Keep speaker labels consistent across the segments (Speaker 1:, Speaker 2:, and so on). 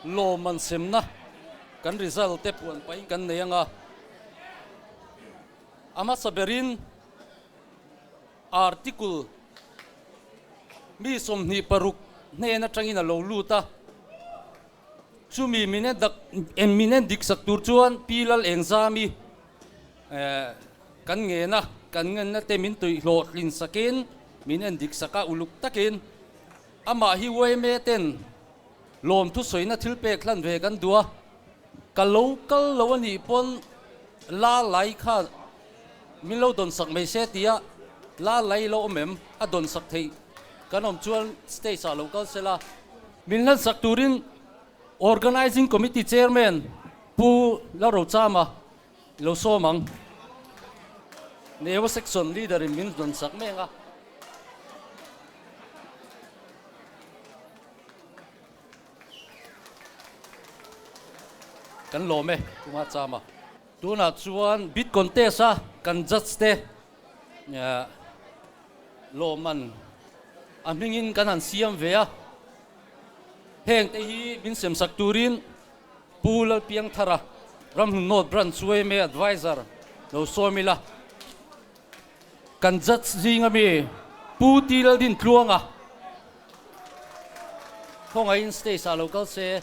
Speaker 1: Lawm an semna kan result te puan pahin kan nei anga a hmasa berin article mi sawmhnih paruk hnen atangin a lo lut a, chumi min en min en dik sak tur chuan Pi Lalengzami kan ngen a, kan ngen na te min tawih hlawh hlin sakin min en dik sak a uluk takin. Amah hi Uaime ten lawmthu sawina thil pek hlan ve kan duh a, ka lo kal lo a nih pawn Lalai kha min lo dawn sak mai se tia Lalai i lo awm em? A dawn sak theih kan awm chuan stage ah lo kal se la. Min hlan sak turin Organising Committee Chairman Pu Larochama I lo sawm ang. Newa section leader in min hnawn sak mek a. Kan lawm e Puma Chama. Tunah chuan bid contest a kan judge te lawm an a hmingin kan han siam ve a. Hengte hi min sem sak turin. Pu Lalpiangthar a Ramhlunawt Branch chu AMA Advisor lo sawi mil a, kan Judge zing ami Pu Ti Laldin Tluang a khawngaihin stage ah lo kal se.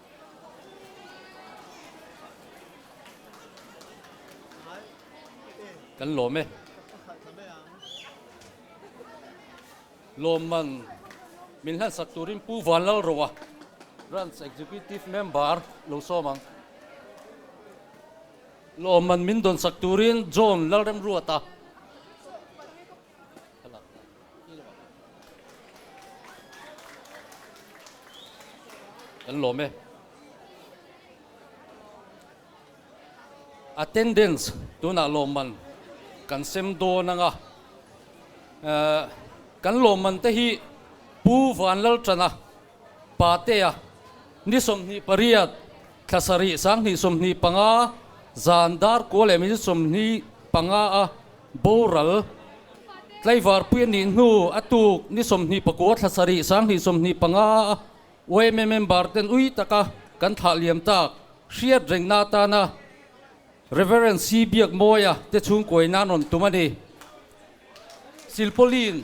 Speaker 1: Kan lawm e. Lawm man min hlansak turin Pu Van Lalroa, Branch Executive Member lo sawm ang. Lawm man min dawnsak turin John Lalremruata, Attendance tunah lawmman kan sem dawn anga kan lawmman te hi Pu Vanlalṭana Patea, ni sawmhnih pariat, thla sarih sanghnih sawmhnih panga, zan dar kua leh min sawmhnih panga a boral, Tlaivarpui anih hnu a tuk ni sawmhnih pakua thla sarih sanghnih sawmhnih panga a uaime member ten ui taka kan thlah liam tak hriat rengna atana Rev. Sii Biak Mawia te chhungkuaina rawn tum a ni. Silpawlin.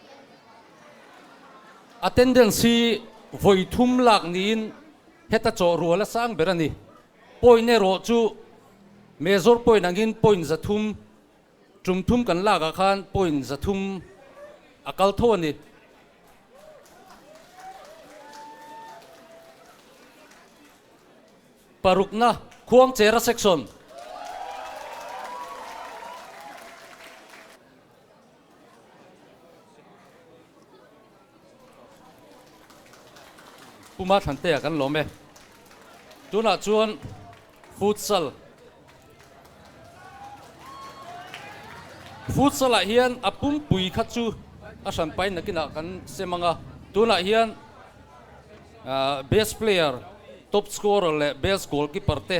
Speaker 1: Attendance hi vawi thum lak niin heta chawh rual a sang ber a ni. Point erawh chu Major point angin point za thum, tum thum kan lakah khan point za thum a kal tho a ni. Parukna, Khuangchera section. Puma thlanteia kan lawm e. Tunah chuan Futsal. Futsalah hian a pumpui kha chu a hranpai nakinah kan sem anga tunah hian Best Player, Top Scorer leh Best Goalkeeper te.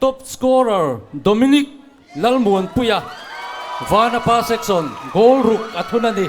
Speaker 1: Top scorer Dominic Lalmuanpuia Vanapa section goal ruk a thun a ni.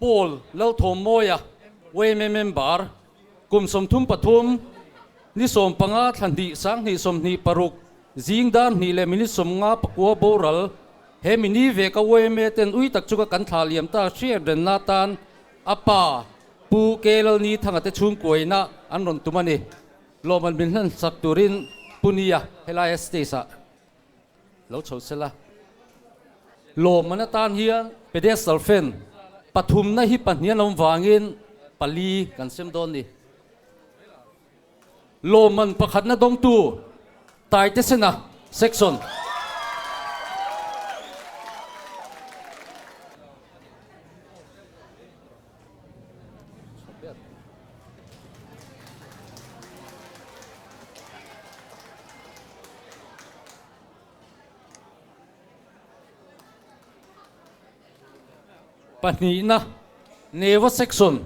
Speaker 1: Pawl Lalthawm Mawia Wayme Member kum sawmthum pathum, ni sawm panga thla hnih, sang hnih, sawm hnih paruk, zing dan hnih leh minute sawm nga pakua boral he mini ve ka Wayme ten ui tak chu ka kan thlah liam ta hriat renna tan a pa Pu Kei Lalni Thanga te chhungkuaina an rawn tum a ni. Lawmman min hlan sak turin Pu Nia helai a stage ah Lo chho sel a, lawmman atan hian pedestal fen pathumna hi pahnih an awm vangin pali kan sem dawn ni. Lawmman pakhatna dawngtu Taitesena section. pahnihna neva section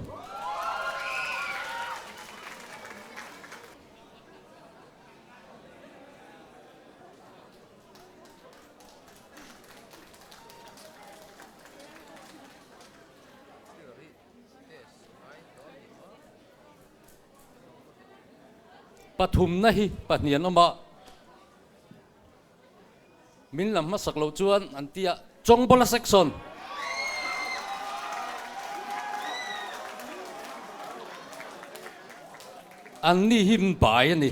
Speaker 1: Pathumna hi pahnih an awm a, min la hmasak loh chuan an ti a, Chawngbola section, an ni hi min bai a ni.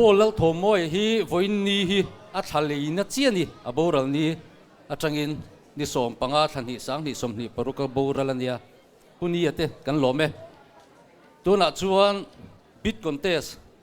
Speaker 1: Paul Lalthawmawia hi vawiinni hi a thla leina chiah ni, a boral ni atangin ni sawm panga thla hnih sang hnih sawm hnih paruk a boral a nia. Puni ate kan lawm e. Tunah chuan bid contest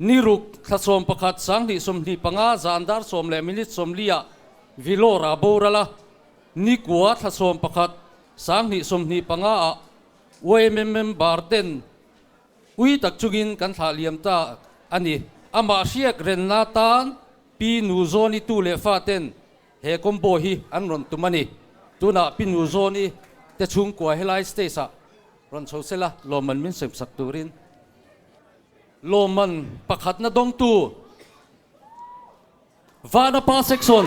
Speaker 1: Ni ruk thlachhawm pakhat sanghnih sawmhnih panga zan dar sawm leh minute sawmliah Vellore a boral a, ni kua thlachhawm pakhat sanghnih sawmhnih panga ah YMM member ten ui tak chungin kan thlah liam ta a ni. Amah hriak renna tan Pi Nu Zawn i tu leh fa ten he combo hi an rawn tum a ni. Tunah Pi Nu Zawn i te chhungkua helai stage ah rawn chho sela lawmman min semsak turin. Lawmman pakhatna dawngtu Vana Pa Section.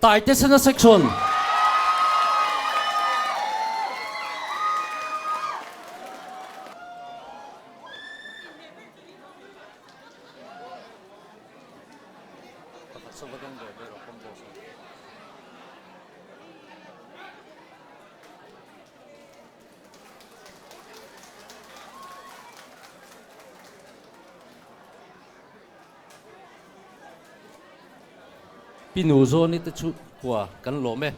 Speaker 1: Taite Sena Section Pi nu Johnny te chu khua kan lawm e.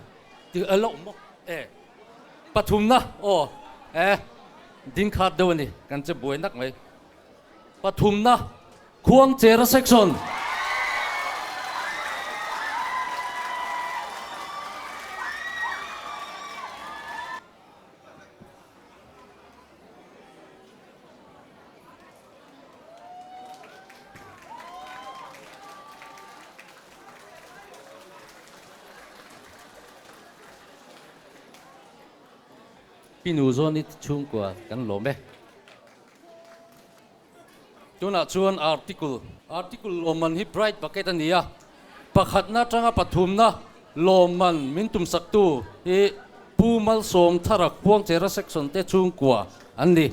Speaker 1: Ti a loh maw e. Pathumna aw e ding khat deuh a ni kan che buai nak mai. Pathumna Khuangchera section. I nu zawn i tichhungkua kan lawm e. Tunah chuan article, article lawmman hi bride bucket a ni a, pakhatna atanga pathumna lawmman min tumsaktu hi Pu Malsawm Thara Khuangchera section te chhungkua an ni.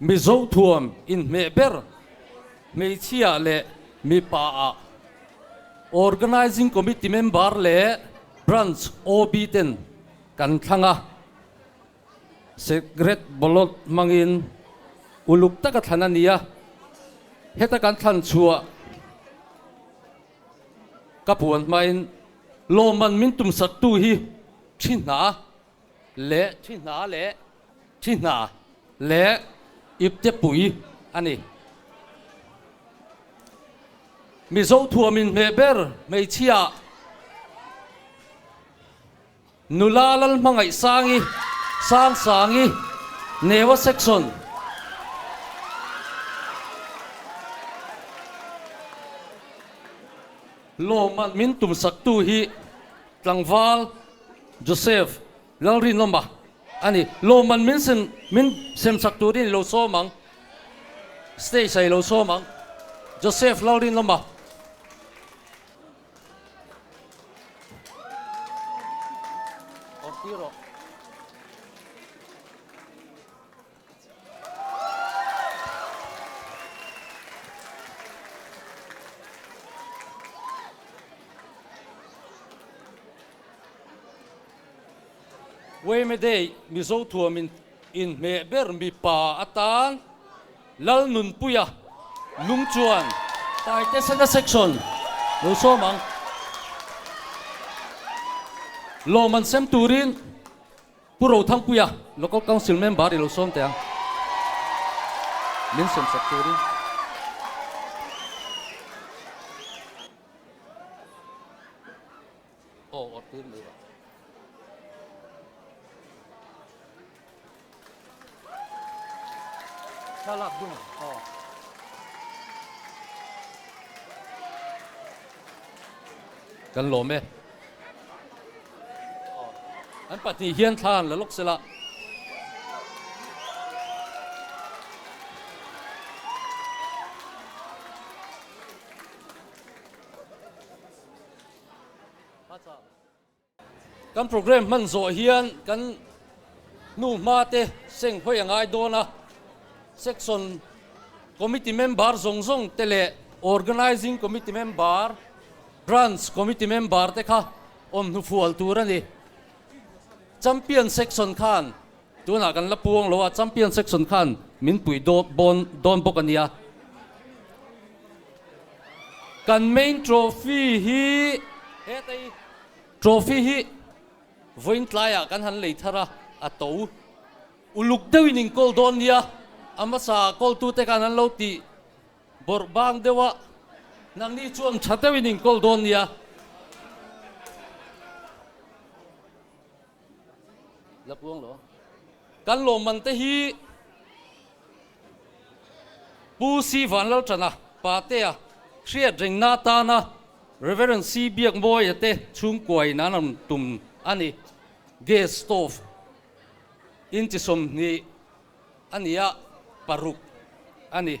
Speaker 1: Mizo thuam inhmeh ber hmeichhia leh mipa a Organising Committee member leh Branch OB ten kan thlang a, Secret Ballot hmangin uluk taka thlan a ni a, heta kan thlan chhuah ka puan hmain lawmman min tumsattu hi thi hna leh thi hna leh. Thi hna leh ipte pui a ni. Mizo thuam in hmeh ber hmeichhia Nula Lalhmangaih Sangi, Sang Sangi, Newa Section, Lawmhman min tum saktu hi Tlangval Joseph Lalrin lawma a ni. Lawman min sem min sem chak turin i lo sawm ang. Stage ah i lo sawm ang. Joseph Lalrin lawma. Awrh tir aw. Weimedeih Mizo thuam in inhmeh ber mipa atan Lalnunpuia Lungchuan Taite Sena Section lo sawm ang. Lawman sem turin. Pu Ro Thang Puia Local Council Member i lo sawm teh ang. Min sawmsak tur in. Aw awrh tur mai va. Kan lawm e. An pahnih hian thla an la lawk sel a. Hmasa. Kan programme hman zawh hian kan hnu hma te seng hawi a ngai dawn a, section committee member zawng zawng te leh organising committee member, branch committee member te kha awm hnufual tur a ni. Champion section khan Tunah kan la puang lo a, champion section khan min puih dawn dawn bawk a nia. Kan main trophy hi hetaii trophy hi vawiin tlaiah kan han lei thar a, a to uluk deuhin in call dawn nia. A hmasa call tute khan an lo tih bawrh bang deuh a, nangni chuan tha deuhin in call dawn nia. La puang lo. Kan lawmman te hi Pu Sri Vanlaltana, Patea, Hriat Reng Natana, Rev. Sri Biak Mawia te chhungkua in an rawn tum a ni. Guest of in chi sawmhnih a ni a, paruk a ni.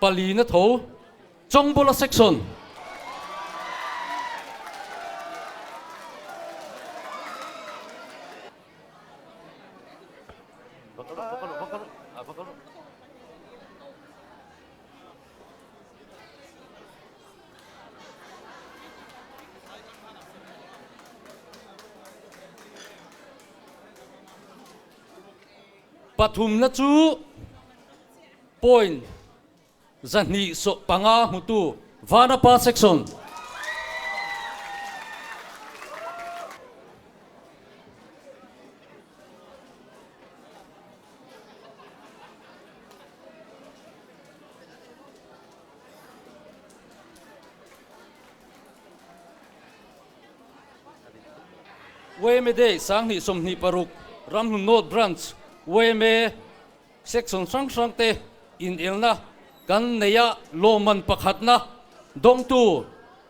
Speaker 1: Pali na tho Chawngbola section. Pathumna chu point zahnih sawh panga hmutu Vanapa section. YMA Day Sanghnih Sawmhnih Paruk Ramhlun North Branch YMA section hrang hrang te inelna kan neih a lawmman pakhatna dawngtu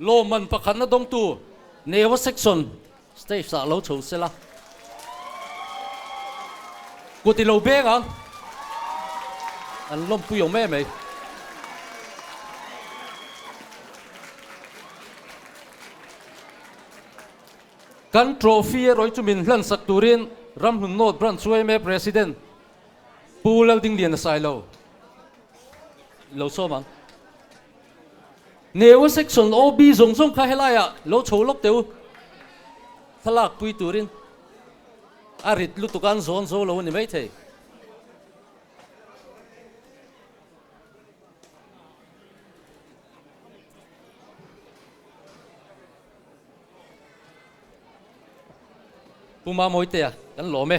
Speaker 1: Lawmman pakhatna dawngtu Newa section stage ah lo chho sela kut ilo benga an lawmpui awm em mai. Kan trophy erawh hi chu min hlansak turin Ramhlun North Branch Uaima President Pu Laltingliana sailo, ilo sawm ang. Neu section OB zawng zawng kha helaiah lo chho lawk teu. Thlalak pui turin a rit lutuk a an zawn zo lo a ni maithei. Pu Mamawiteah kan lawm e.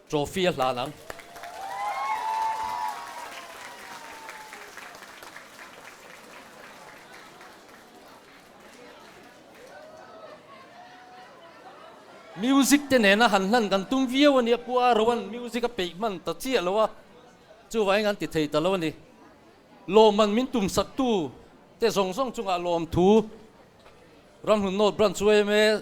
Speaker 1: Trophy a hlan ang. Music te nena han hlan kan tum viau a ni a, Pu Arawan music a peih hman ta chiah lo a, chuvai in an ti thei ta lo a ni. Lawmman min tum sak tu te zawng zawng chungah lawmthu Ramhlun North Branch chu em e.